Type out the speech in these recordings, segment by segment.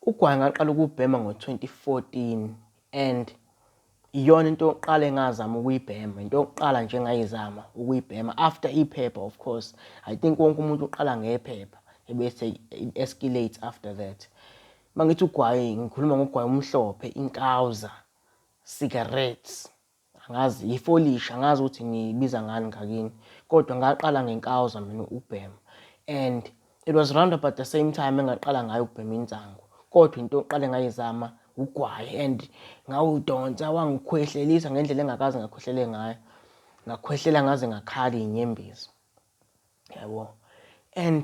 Ugwayi ngaqala ukubhema ngo-2014 and iyona into yokuqala engazama ukuyibhema into yokuqala nje engayizama ukuyibhema after iphepha of course i think wonke umuntu uqala ngephepha ebese i-escalate after that uma ngithi ugwayi ngikhuluma ngogwayi omhlophe inkawuza cigarettes angazi yifolishi angazi ukuthi ngiyibiza ngani ngakini kodwa ngaqala ngenkawuza mina ukubhema and it was round about the same time engaqala ngayo ukubhema insangu kodwa into oqale ngayizama ugwayi and ngawudonsa wangikhwehlelisa ngendlela engakaze ngakhwehlele ngayo ngakhwehlela ngaze ngakhala inyembezi yabo and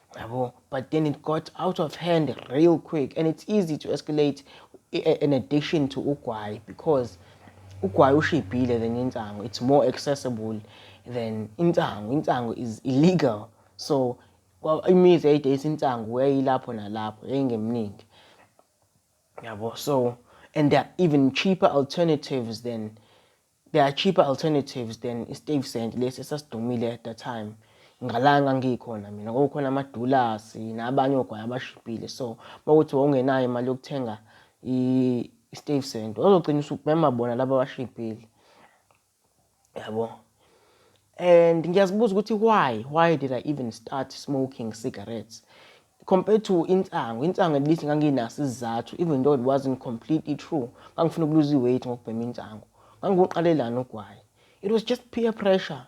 Yabo, but then it got out of hand real quick and it's easy to escalate an addiction to ugwayi because ugwayi ushibhile than insangu it's more accessible than insangu insangu is illegal so imizi yayidayisa insangu yayilapho nalapho yayingemningi yabo so and there are even cheaper alternatives than There are cheaper alternatives than iStuyvesant lesi esasidumile at the time. Ngala ngangikhona mina kwakukhona amadulasi nabanye ogwayi abashibhile so makuthi wawungenayo imali yokuthenga iStuyvesant wazogcina usubhema bona laba abashibhile. Yabo. And ngiyazibuza ukuthi why why did I even start smoking cigarettes compared to insangu insangu at least nganginaso isizathu even though it wasn't completely true ngangifuna ukuluza iweight ngokubhema insangu ngangiwuqalelani ugwayi it was just peer pressure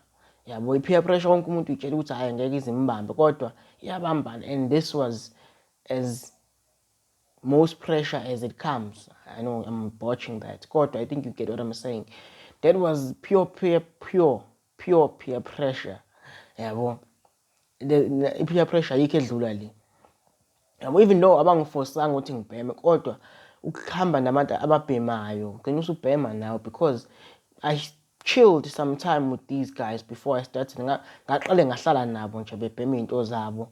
yabo i-peer pressure wonke umuntu uyitshela ukuthi hhayi ngeke izimbambe kodwa iyabambana and this was as most pressure as it comes i know i'm botching that kodwa i think you get what i'm saying that was pure pure pure pure peer pressure yabo i-peer pressure ayikho edlula le yabo even though abangifosanga ukuthi ngibheme kodwa ukuhamba nabantu ababhemayo ugcina usubhema nawe because i chilled some time with these guys before i started ngaqale ngahlala nabo nje bebhema iy'nto zabo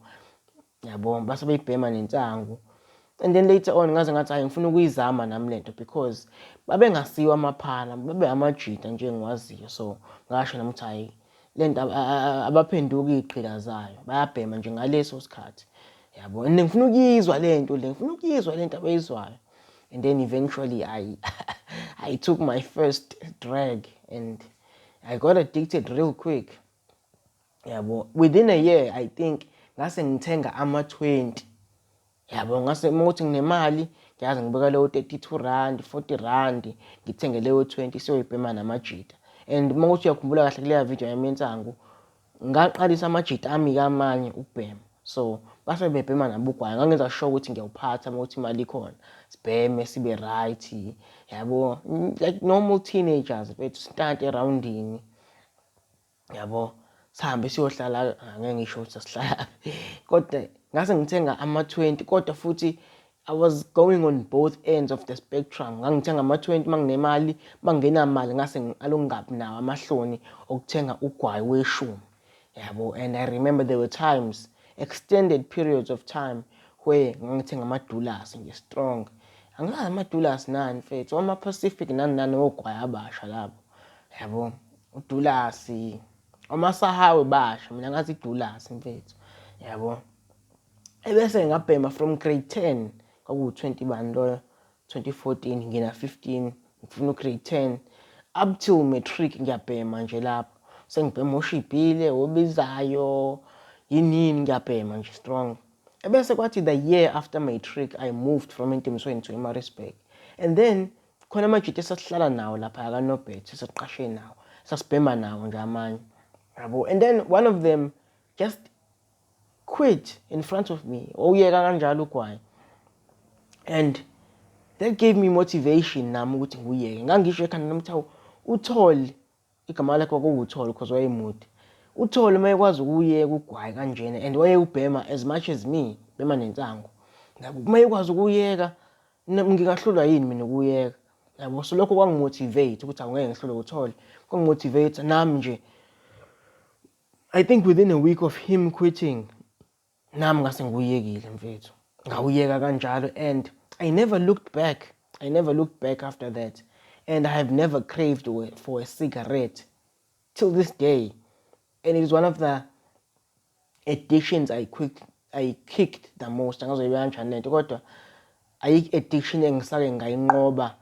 Yabo base beyibhema nensangu. And then later on ngaze ngathi hayi ngifuna ukuyizama nami lento because babengasiwa amaphala, babe amajita nje ngiwaziyo. So ngasho nami ukuthi hayi lento abaphenduki iqhila zayo, bayabhema nje ngaleso sikhathi. Yabo, and ngifuna ukuyizwa lento le, ngifuna ukuyizwa lento abayizwayo. And then eventually I I took my first drag and I got addicted real quick. yabo within a year i think ngase ngithenga ama-20 yabo ngase uma ukuthi nginemali ngiyazi ngibeka leyo 32 rand 40 rand ngithenge leyo 20 siyoyibhema namajita and uma ukuthi uyakhumbula kahle kuleya video yami yensangu ngaqalisa amajita ami kamanye ukubhema so base bebhema nabugwayi ngangenza sure ukuthi ngiyawuphatha uma ukuthi imali ikhona sibheme sibe right yabo like normal teenagers bethu sitante erowundini yabo sihambe siyohlala ngeke ngisho ukuthi sasihlala kodwa ngase ngithenga ama-20 kodwa futhi I was going on both ends of the spectrum ngangithenga ama-20 manginemali mangingenamali ngase ngiqala ukungabi nawo amahloni okuthenga ugwayi weshumi yabo and I remember there were times extended periods of time where ngangithenga amadulasi nje strong angilazi amadulasi nani mfethu ama-pacific nani nani ogwayi abasha labo Yabo udulasi omasahawe basho mina ngathi idulasi mfethu yabo ebese ngabhema from grade 10 kwakuwu-20 bani loyo 2014 ngina 15 ngifuna ugrade 10 up till matric ngiyabhema nje lapho sengibhema oshibhile obizayo yinini ngiyabhema nje strong ebese kwathi the year after matric i moved from entemisweni to emarisburg and then Khona amajita esasihlala nawo lapha kaNobert sesiqashe nawo. Sasibhema nawo nje amanye. Yabo and then one of them just quit in front of me. Oyeka kanjalo ugwayi. And that gave me motivation nami ukuthi nguyeke. Ngangisho ekhanda nami ukuthi uthole Igama lakhe kwakuwuTholo because wayemude. UTholo uma ekwazi ukuwuyeka ugwayi kanjena and wayewubhema as much as me bhema nensangu. Yabo uma ekwazi ukuwuyeka ngingahlulwa yini mina ukuwuyeka. Yabo so lokho kwangimotivate ukuthi awungeke ngihlulwe uTholo. Kwangimotivate nami nje I think within a week of him quitting Nami ngase nguyekile mfethu. Ngawuyeka kanjalo and I never looked back. I never looked back after that. And I have never craved for a cigarette till this day. And it is one of the addictions I quick I kicked the most. Angazoyibeka kanjani lento kodwa ayikho addiction engisake ngayinqoba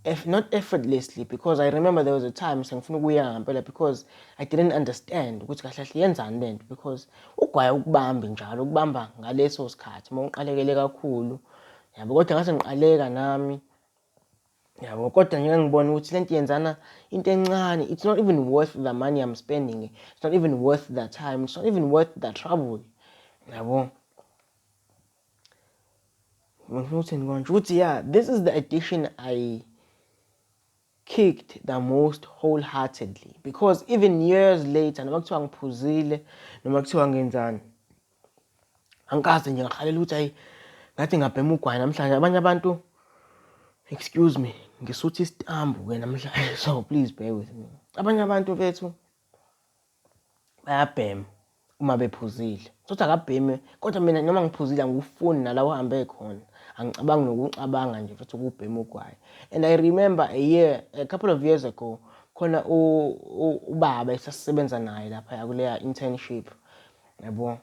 Eff, not effortlessly because I remember there was a time sengifuna ukuyeka ngampela because I didn't understand ukuthi kahle kahle yenzani le nto because ugwaye ukubambi njalo ukubamba ngaleso sikhathi uma uqalekele kakhulu yabo kodwa ngase ngiqaleka nami yabo kodwa ngike ngibone ukuthi le nto yenzana into encane it's not even worth the money I'm spending it's not even worth the time it's not even worth the trouble yabo ngifuna ukuthini konje ukuthi yeah this is the edition i kicked the most wholeheartedly because even years later noma kuthiwa ngiphuzile noma kuthiwa ngenzani angikaze nje ngahalela ukuthi ayi ngathi ngabhema ugwayi namhlanje abanye abantu excuse me ngisuthi isitambu-ke namhlanje so please bear with me abanye abantu bethu bayabhema uma bephuzile sothi akabheme kodwa mina noma ngiphuzile angikufuni nala uhambe khona angicabangi nokucabanga nje futhi ukubhema ugwayi and i remember a year a couple of years ago khona ubaba esasisebenza naye lapha kuleya internship yabo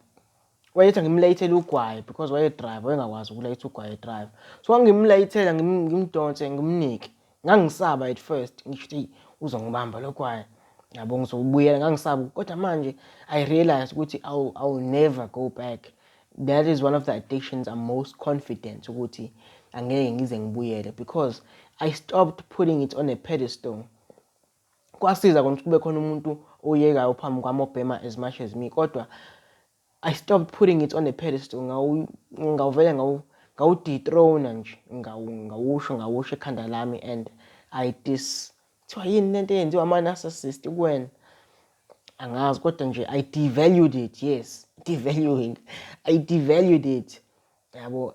wayethi ngimlayithele ugwayi because wayedrive wayengakwazi ukulayitha ugwayi edrive so ngangimlayithela ngimdonse ngimnike ngangisaba at first ngisho ukuthi uzongibamba lo gwayi yabo ngizobuyela ngangisaba kodwa manje i realize ukuthi i will never go back that is one of the addictions i'm most confident ukuthi angeke ngize ngibuyele because i stopped putting it on a pedestal Kwasiza kona ukuthi kube khona umuntu oyekayo phambi kwami obhema as much as me kodwa I stopped putting it on a pedestal ngawuvele ngawudethrona nje ngawusho ngawusho ekhanda lami and I dis kuthiwa yini lento eyenziwa ama-narcissist kuwena angazi kodwa nje I devalued it yes devaluing I devalued it yabo